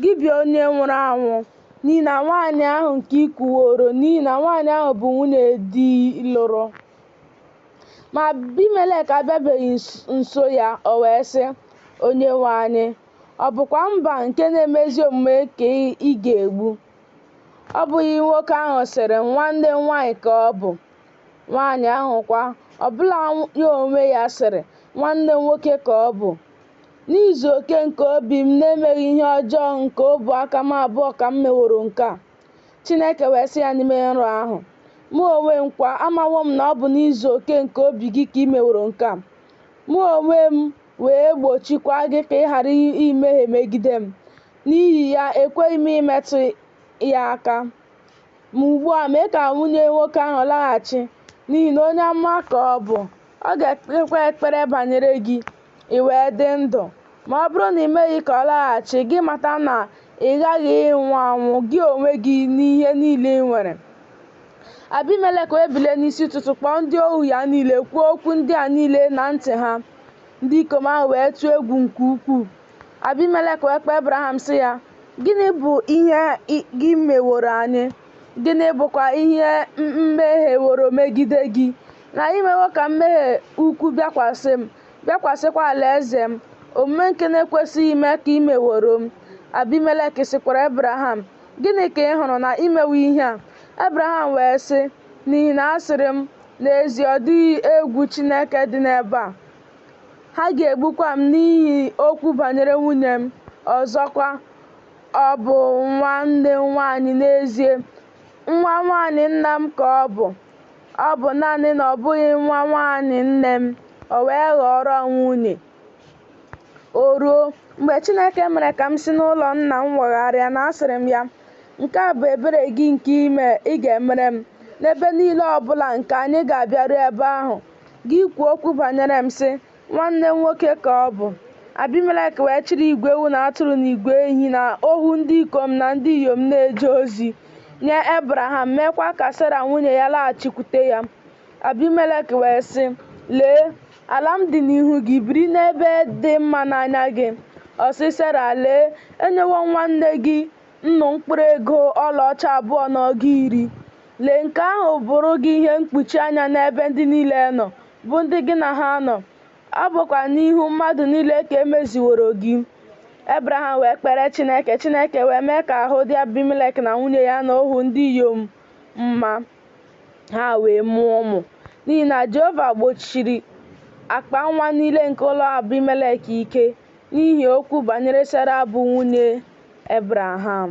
Gị bụ onye nwụrụ anwụ, n'ihi na nwaanyị ahụ nke i kuworo, n'ihi na nwaanyị ahụ bụ nwunye di lụrụ. Ma Abimelek abịabeghị nso ya, o wee sị, Onyenwe anyị, ọ bụkwa mba nke na-eme ezi omume ka ị ga-egbu? Ọ bụghị nwoke ahụ sịrị, Nwanne m nwaanyị ka ọ bụ? Nwaanyị ahụ kwa, ọ bụla ya onwe ya sịrị, Nwanne m nwoke ka ọ bụ? N'izu oke nke obi m n'emeghị ihe ọjọọ nke ọbụ aka m abụọ ka m meworo nke a. Chineke wee sị ya n'ime nrọ ahụ, Mụ onwe m kwa, amawo m na ọ bụ n'izu oke nke obi gị ka i meworo nke a. Mụ onwe m wee gbochikwa gị ka ị ghara imehie megide m, n'ihi ya ekweghị m imetụ ya aka. Ma ugbu a mee ka nwunye nwoke ahụ laghachi, n'ihi na onye amụma ka ọ bụ. Ọ ga-ekpekwa ekpere banyere gị, i wee dị ndụ. Ma ọ bụrụ na i meghị ka ọ laghachi, gị mata na ị ghaghị ịnwụ anwụ, gị onwe gị na ihe niile i nwere. Abimelek wee bilie n'isi ụtụtụ kpọọ ndị ohu ya niile, kwuo okwu ndị a niile na ntị ha. Ndị ikom ahụ wee tụọ egwu nke ukwuu. Abimelek wee kpọọ Ebraham sị ya, Gịnị bụ ihe gị meworo anyị? Gịnị bụkwa ihe m mehieworo megide gị? na i mewo ka mmehie ukwu bịakwasị m, bịakwasịkwa alaeze m, omume nke na-ekwesịghị ime ka i meworo m. Abimelek sịkwara Ebraham, Gịnị ka ị hụrụ na i mewo ihe a? Ebraham wee sị, N'ihi na asịrị m, N'ezie ọ dịghị egwu Chineke dị n'ebe a, ha ga-egbukwa m n'ihi okwu banyere nwunye m. Ọzọkwa, ọ bụ nwanne m nwaanyị n'ezie, nwa nwaanyị nna m ka ọ bụ. Ọ bụ naanị na ọ bụghị nwa nwaanyị nne m, o wee ghọọrọ m nwunye. O ruo, mgbe Chineke mere ka m si n'ụlọ nna m wagharịa na asịrị m ya, Nke a bụ ebere gị nke ị ga-emere m, n'ebe niile ọ bụla nke anyị ga-abịaru ebe ahụ, gị kwuo okwu banyere m sị, Nwanne m nwoke ka ọ bụ. Abimelek wee chịrị igwe ewu na atụrụ na igwe ehi na ohu ndị ikom na ndị inyom na-eje ozi nye Ebraham, meekwa ka Sera nwunye ya laghachikwute ya. Abimelek wee sị, Lee, ala m dị n'ihu gị, biri n'ebe dị mma n'anya gị. Ọ sị Sera, Lee, enyewo m nwanne gị nnu mkpụrụ ego ọlaọcha abụọ na ọgụ iri. Lee, nke ahụ bụụrụ gị ihe mkpuchi anya n'ebe ndị niile nọ, bụ ndị gị na ha nọ, ọ bụkwa n'ihu mmadụ niile ka e meziworo gị. Ebraham wee kpere Chineke, Chineke wee mee ka ahụ dị Abimelek na nwunye ya na ohu ndị inyom mma, ha wee mụọ ụmụ. N'ihi na Jehova gbochiri akpa nwa niile nke ụlọ Abimelek ike n'ihi okwu banyere Sera bụ nwunye Ebraham.